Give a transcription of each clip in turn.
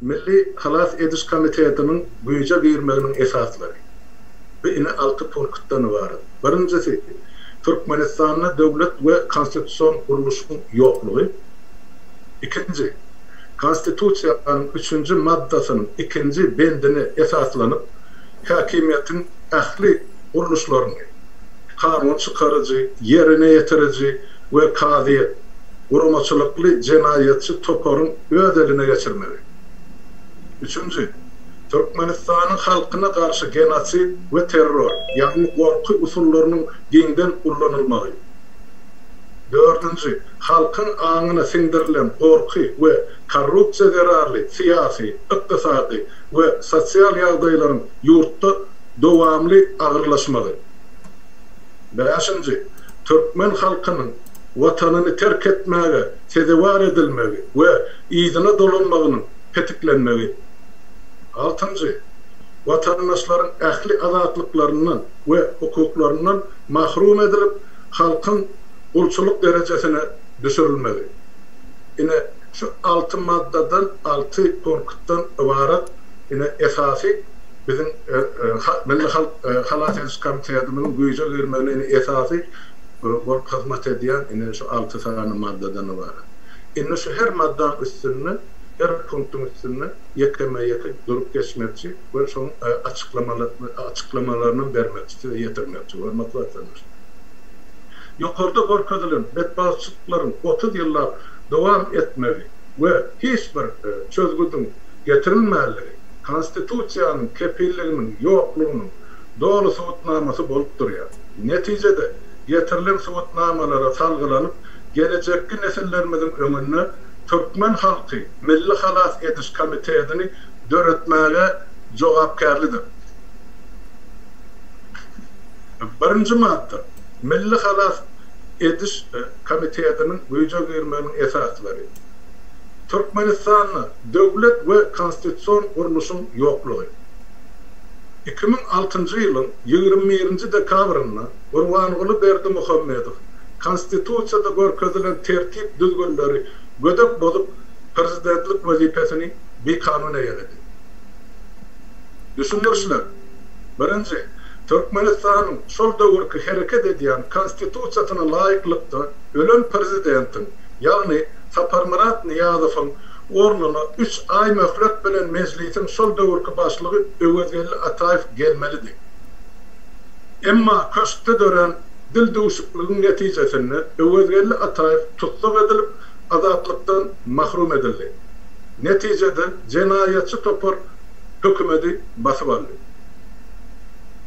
Milli halas ediş komitetiniň güýje girmeginiň esaslary, bu ine alty punktdan ybarat. Birinjisi, Türkmenistanda döwlet we konstitusion gurluşyň ýoklugy. Ikinji, Konstitusiýanyň üçünji maddasynyň ikinji bendine esaslanyp, häkimiýetiň ähli gurluşlaryny, kanun çykaryjy, ýerine ýetiriji, we kazyýet, guramaçylykly jenaýatçy toparyň öz eline geçirmegi. Üçünji, Türkmenistanyň halkyna garşy genosid we terror, ýagny gorky usullarynyň giňden ullanylmagy. Dördünji, halkyň aňyna siňdirilen gorky we korrupsiýa zerarly syýasy, ykdysady we sosial ýagdaýlaryň ýurtda dowamly agyrlaşmagy. Bäşinji, türkmen halkynyň Watanyny terk etmäge sezewar edilmegi we yzyna dolanmagynyň petiklenmegi. Altynjy, watandaşlaryň ähli azatlyklaryndan we hukuklaryndan mahrum edilip, halkyň gulçulyk derejesine düşürilmegi. Ine, şu alty maddadan, alty punktdan ybarat ine esasy. Biziň Milli halk halas ediş komitetimiziň güýje girmegine indi esasy bolup hyzmat edýän ine şu alty sany maddadan ybarat. Indi şu her maddanyň üstünde, her punktyň üstünde ýekeme-ýeke durup geçmekçi we şoň açyklamalaryny bermekçi, size ýetirmekçi, hormatly watandaşlar. Ýokarda görkezilen betbagtçylyklaryň otuz ýyllap dowam etmegi we hiç bir çözgüdiň getirilmänligi, Konstitusiýanyň kepilliginiň ýoklugynyň doly subutnamasy bolup durýar. Netijede, getirilen subutnamalara salgylanyp, gelejekki nesillerimiziň öňünde türkmen halky Milli halas ediş komitetini döretmäge jogapkärlidir. Birinji madda. Milli halas ediş komitetiniň güýje girmeginiň esaslary. Türkmenistanda döwlet we konstitusion gurluşyň ýoklugy. Iki müň altynjy ýylyň ýigrimi birinji dekabrynda Gurbanguly Berdimuhamedow Konstitusiýada görkezilen tertip-düzgünleri gödek bozup, prezidentlik wezipesini bikanun eýeledi. Düşündirişler. Birinji, Türkmenistanyň şol döwürki hereket edýän Konstitusiýasyna laýyklykda, ölen prezidentiň, ýagny Saparmyrat Nyýazowyň ornuna üç aý möhlet bilen Mejlisiň şol döwürki başlygy Öwezgeldi Ataýew gelmelidi. Emma köşkde dörän dildüwşükligiň netijesinde Öwezgeldi Ataýew tussag edilip, azatlykdan mahrum edildi. Netijede jenaýatçy topar hökümeti basyp aldy.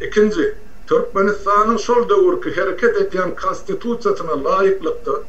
Ikinji, Türkmenistanyň şol döwürki hereket edýän Konstitusiýasyna laýyklykda,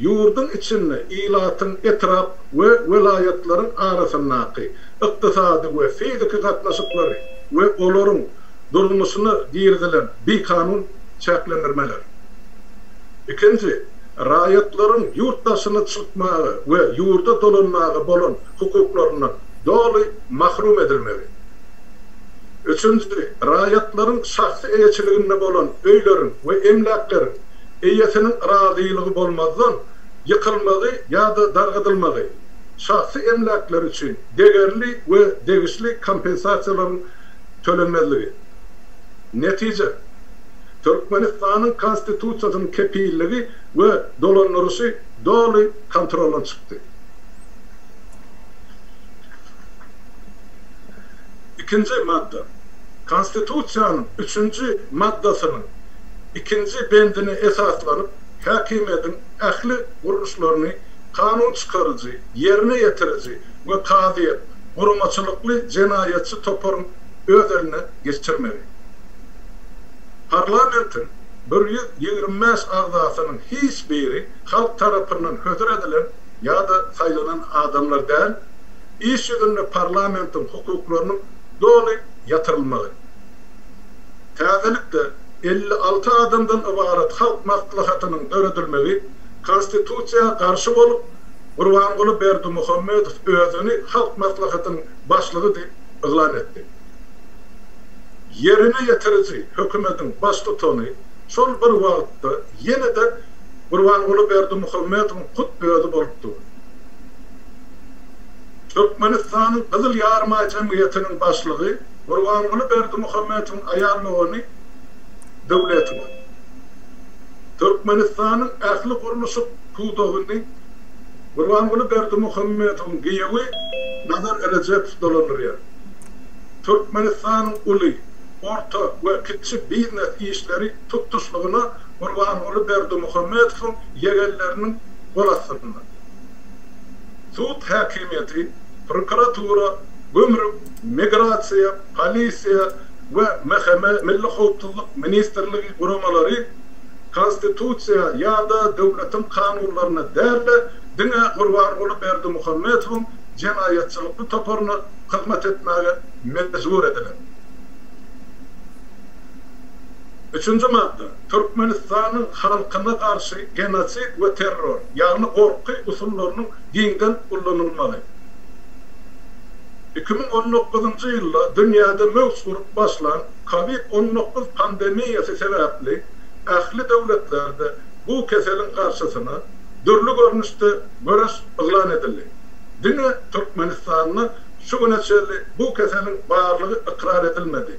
ýurduň içinde ilatyň etrap we welaýatlaryň arasyndaky ykdysady we fiziki gatnaşyklary we olaryň durmuşyna girizilen bikanun çäklendirmeler. Ikinji, raýatlaryň ýurt daşyna çykmaga we ýurda dolanmaga bolan hukuklaryndan doly mahrum edilmegi. Üçünji, raýatlaryň şahsy eýeçiliginde bolan öýleriň we emläkleriň eýesiniň razylygy bolmazdan ýykylmagy ýa-da dargadylmagy, şahsy emläkleri üçin degerli we degişli kompensasiýalaryň tölenmezligi. Netije, Türkmenistanyň Konstitusiýasynyň kepilligi we dolandyryşy doly kontroldan çykdy. Ikinji madda. Konstitusiýanyň üçünji maddasynyň. ikinji bendine esaslanyp, häkimiýetiň ähli gurluşlaryny kanun çykaryjy, ýerine ýetiriji we kazyýet, guramaçylykly jenaýatçy toparyň öz eline geçirmegi. Parlamentiň bir ýüz ýigrimi bäş agzasynyň hiç biri halk tarapyndan hödür edilen ýa-da saýlanan adamlar däl, iş ýüzünde parlamentiň hukuklarynyň doly ýatyrylmagy. Täzelikde, elli alty adamdan ybarat Halk Maslahatynyň döredilmegi Konstitusiýa garşy bolup, Gurbanguly Berdimuhamedow özüni Halk Maslahatynyň başlygy diýip yglan etdi. Ýerine ýetiriji hökümetiň baştutany şol bir wagtda ýene-de Gurbanguly Berdimuhamedowyň hut özi bolup dur. Türkmenistanyň Gyzyl Ýaryma jemgyýetiniň başlygy, Gurbanguly Berdimuhamedowyň aýal dogany Döwletowa Türkmenistanyň ähli gurluşyk pudagyny Gurbanguly Berdimuhamedowyň giýewi Nazar Rejepow dolandyrýar. Türkmenistanyň uly, orta we kiçi biznes işleri tutuşlygyna Gurbanguly Berdimuhamedowyň ýegenleriniň gol astynda. Sud häkimiýeti, prokuratura, gümrük, Migrasiýa, Polisiýa we MHM, Milli howpsuzlyk ministrligi, guramalary Konstitusiýa ýa-da döwletiň kanunlaryna däl-de, diňe Gurbanguly Berdimuhamedowyň jenaýatçylykly toparyna hyzmat etmäge mejbur ediler. Üçünji madda. Türkmenistanyň halkyna garşy genosid we terror, ýagny gorky usullarynyň giňden ullanylmagy. Iki müň on dokuzynjy ýylda dünýäde möwç urup başlan Covid on dokuz pandemiýasy sebäpli ähli döwletlerde bu keseliň garşysyna dürli görnüşde göreş yglan edildi. Diňe Türkmenistanda şu güne çenli bu keseliň barlygy ykrar edilmedi.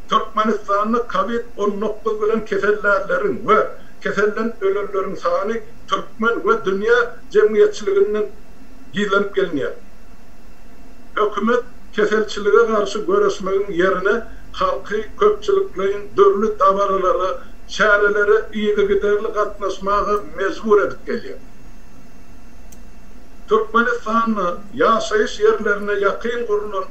Türkmenistanda Covid on dokuz bilen kesellänleriň we keselden ölenleriň sany türkmen we dünýä jemgyýetçiliginden gizlenip gelinýär. Hökümet keselçilige garşy göreşmegiň ýerine halky köpçülikleýin dürli dabaralara, çärelere yzygiderli gatnaşmaga mejbur edip gelýär. Türkmenistanda ýaşaýyş ýerlerine ýakyn gurlan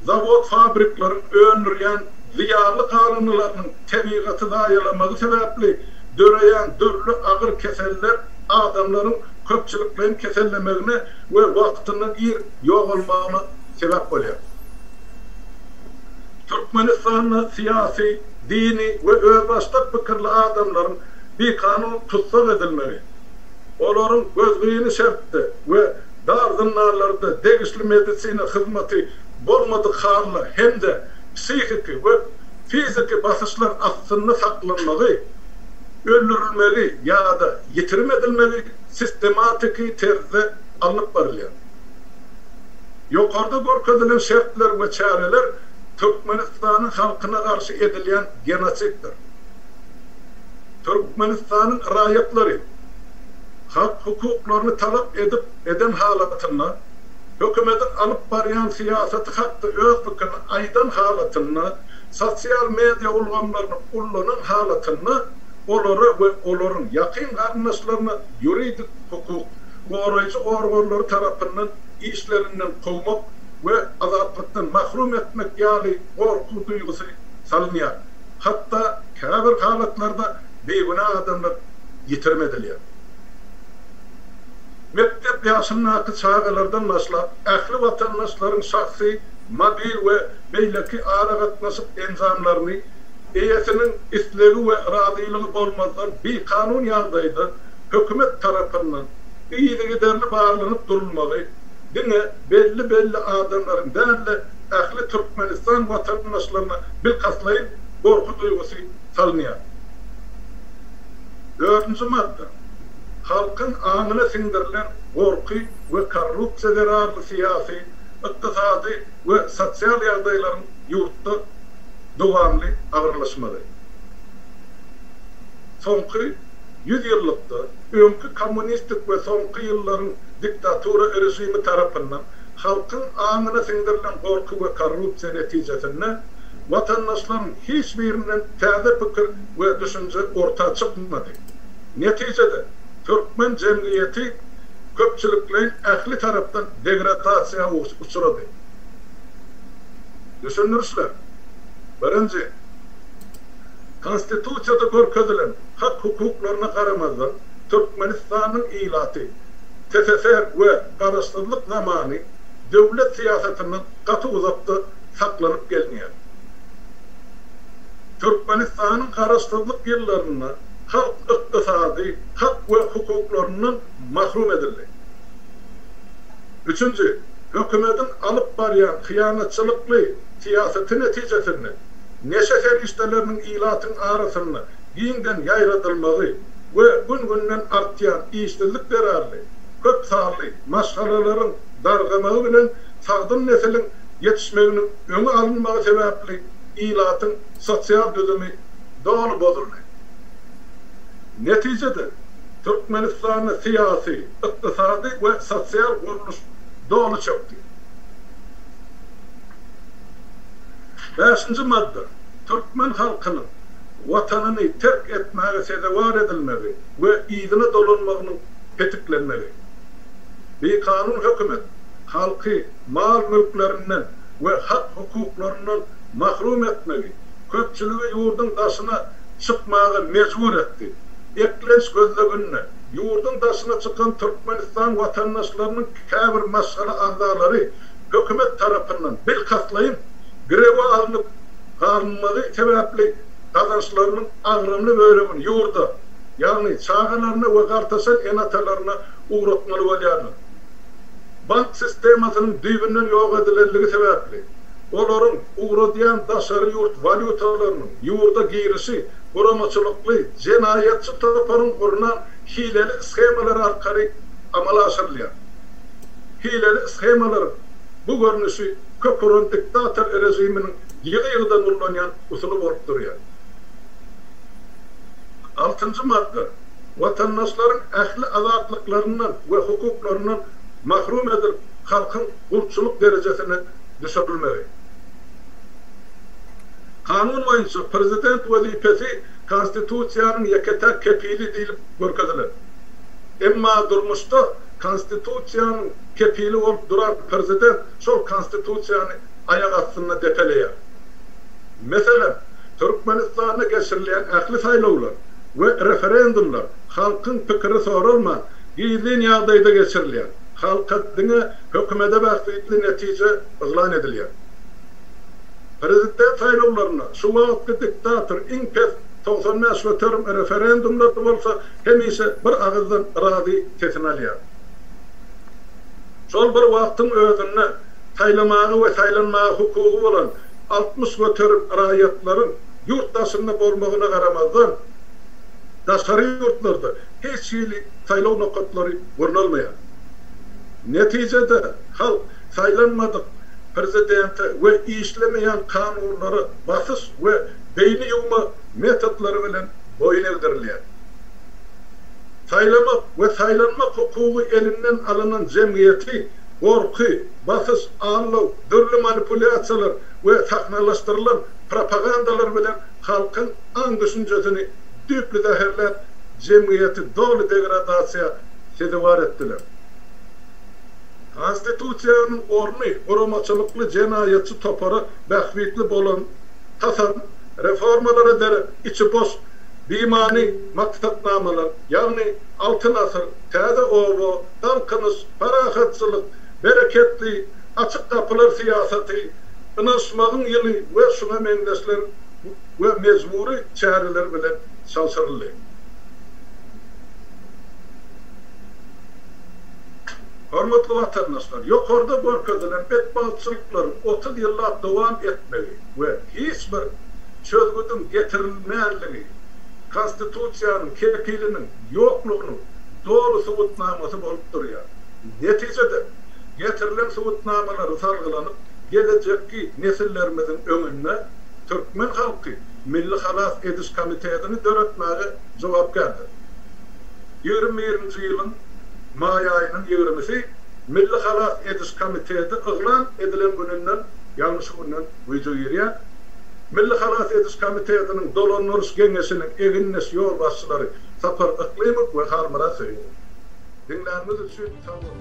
zawod-fabrikleriň öndürýän zyýanly galyndylarynyň tebigaty zaýalamagy sebäpli döreýän dürli agyr keseller, adamlaryň köpçülikleýin kesellemegine we wagtyndan ir ýogalmagyna sebäp bolýar. Türkmenistanda syýasy, dini we özbaşdak pikirli adamlaryň bikanun tussag edilmegi, olaryň gözgyny şertde we dar zyndanlarda degişli medisina hyzmaty bolmadyk halda hem-de psihiki we fiziki basyşlar astynda saklanmagy, öldürilmegi ýa-da ýitirim edilmegi sistematiki terzde alnyp barylýar. Ýokarda görkezilen şertler we çäreler Türkmenistanyň halkyna garşy edilýän genosiddir. Türkmenistanyň raýatlary hak hukuklaryny talap edip eden halatynda, hökümetiň alyp barýan syýasaty hakda öz pikirini aýdan halatynda, Sosial media ulgamlaryny ullanan halatynda olara we olaryň ýakyn garyndaşlaryna ýuridik hukuk goraýjy organlary tarapyndan işlerinden kowmak we azatlykdan mahrum etmek ýaly gorky duýgusy salynýar, hatda käbir halatlarda bigünä adamlar ýitirim edilýär. Mekdep ýaşyndaky çagalardan başlap ähli watandaşlaryň şahsy mobil we beýleki aragatnaşyk enjamlaryny eýesiniň islegi we razylygy bolmazdan bikanun ýagdaýda hökümet tarapyndan yzygiderli barlanyp durulmagy diňe belli-belli adamlaryň däl-de, ähli Türkmenistan watandaşlaryna bilkastlaýyn gorky duýgusy salynýar. Dördünji madda. Halkyň aňyna siňdirilen gorky we korrupsiýa zerarly syýasy, ykdysady, we sosial ýagdaýlaryň ýurtda dowamly agyrlaşmagy. Soňky ýüz ýyllykda öňki kommunistik we soňky ýyllaryň diktatura režimi tarapyndan halkyň aňyna siňdirilen gorky we korrupsiýa netijesinde watandaşlaryň hiç birinden täze pikir we düşünje orta çykmady. Netijede, türkmen jemgyýeti köpçülikleýin ähli tarapdan degradasiýa uçrady. Düşündirişler, Birinji, Konstitusiýada görkezilen hak-hukuklaryna garamazdan, Türkmenistanyň ilaty TSSR we Garaşsyzlyk zamany döwlet syýasatyndan gaty uzakda saklanyp gelinýär. Türkmenistanyň Garaşsyzlyk ýyllarynda halk ykdysady hak we hukuklaryndan mahrum edildi. Üçünji, hökümetiň alyp barýan hyýanatçylykly syýasaty netijesinde neşe serişdeleriniň ilatyň arasynda giňden ýaýradylmagy we gün-günden artýan işsizlik zerarly köp sanly maşgalalaryň dargamagy bilen sagdyn nesiliň ýetişmeginiň öňi alynmagy sebäpli ilatyň sosial düzümi doly bozuldy. Netijede, Türkmenistanda syýasy, ykdysady we sosial gurluş doly çökdi. Bäşinji madda. Türkmen halkynyň Watanyny terk etmäge sezewar edilmegi we yzyna dolanmagynyň petiklenmegi. Bikanun hökümet halky mal-mülklerinden we hak-hukuklaryndan mahrum etmegi, köpçüligi ýurduň daşyna çykmaga mejbur etdi. Eklenç gözleginde, ýurduň daşyna çykan Türkmenistan watandaşlarynyň käbir maşgala agzalary hökümet tarapyndan bilkastlaýyn girewe alnyp galynmagy sebäpli gazançlarynyň agramly bölegini ýurda, ýagny çagalaryna we gartaşan ene-atalaryna ugratmaly bolýarlar. bank sistemasynyň düýbünden ýok edilenligi sebäpli, olaryň ugradýan daşary ýurt walýutalarynyň ýurda girişi guramaçylykly jenaýatçy toparyň gurnan hileli shemalary arkaly amala aşyrylýar. Hileli shemalaryň bu görnüşi kök uran diktator režiminiň ýygy-ýygydan ullanýan usuly bolup durýar. Altynjy madda. watandaşlaryň ähli azatlyklaryndan we hukuklaryndan mahrum edilip, halkyň gulçulyk derejesine düşürilmegi. Kanun boýunça Prezident wezipesi Konstitusiýanyň ýeke-täk kepili diýlip görkezilen. Emma durmuşda Konstitusiýanyň kepili bolup duran Prezident şol Konstitusiýany aýak astynda depeleýär. Meselem, Türkmenistanda geçirilýän ähli saýlawlar we referendumlar halkyň pikiri soralman, gizlin ýagdaýda geçirilýär, halka diňe hökümete bähbitli netije yglan edilýär. Prezident saýlawlarynda şu wagtky diktator iň pes togsan bäş göterim, referendumlarda bolsa hemişe bir agyzdan yrazy sesini alýar. Şol bir wagtyň özünde, saýlamaga we saýlanmaga hukugy bolan altmyş göterim raýatlaryň ýurt daşynda bolmagyna garamazdan, daşary ýurtlarda hiç hili saýlaw nokatlary gurnalmaýar. Netijede, halk saýlanmadyk prezidente we işlemeýän kanunlara basyş we beýni ýuwma metodlary bilen boýun egdirilýär. Saýlamak we saýlanmak hukugy elinden alynan jemgyýeti gorky, basyş, aldaw, dürli manipulýasiýalar we sahnalaşdyrylan propagandalar bilen halkyň aň-düşünjesini düýpli zäherläp, jemgyýeti doly degradasiýa sezewar etdiler. Konstitusiýanyň orny guramaçylykly jenaýatçy topara bähbitli bolan, hasam reformalar eder, içi boş, bimany maksatnamalar, ýagny Altyn asyr, Täze oba, Galkynyş, Parahatçylyk, Bereketli, Açyk gapylar syýasaty, Ynanyşmagyň ýyly we şuňa meňzeşler we mejbury çäreler bilen çalşyryldy. Hormatly watandaşlar, ýokarda görkezilen betbagtçylyklaryň otuz ýyllap dowam etmegi we hiç bir çözgüdiň getirilmänligi Konstitusiýanyň kepiliniň ýoklugynyň doly subutnamasy bolup durýar. Netijede, getirilen subutnamalary salgylanyp, gelejekki nesillerimiziň öňünde türkmen halky Milli halas ediş komitetini döretmäge jogapkärdir. ýigrimi birinji ýylyň maý aýynyň ýigrimisi Milli halas ediş komiteti yglan edilen gününden, ýagny şu günden güýje girýär. Milli halas ediş komitetiniň dolandyryş geňeşiniň egindeş ýolbaşçylary Sapar Yklymow we Halmyrat Söýegow. Diňläniňiz üçin sag boluň!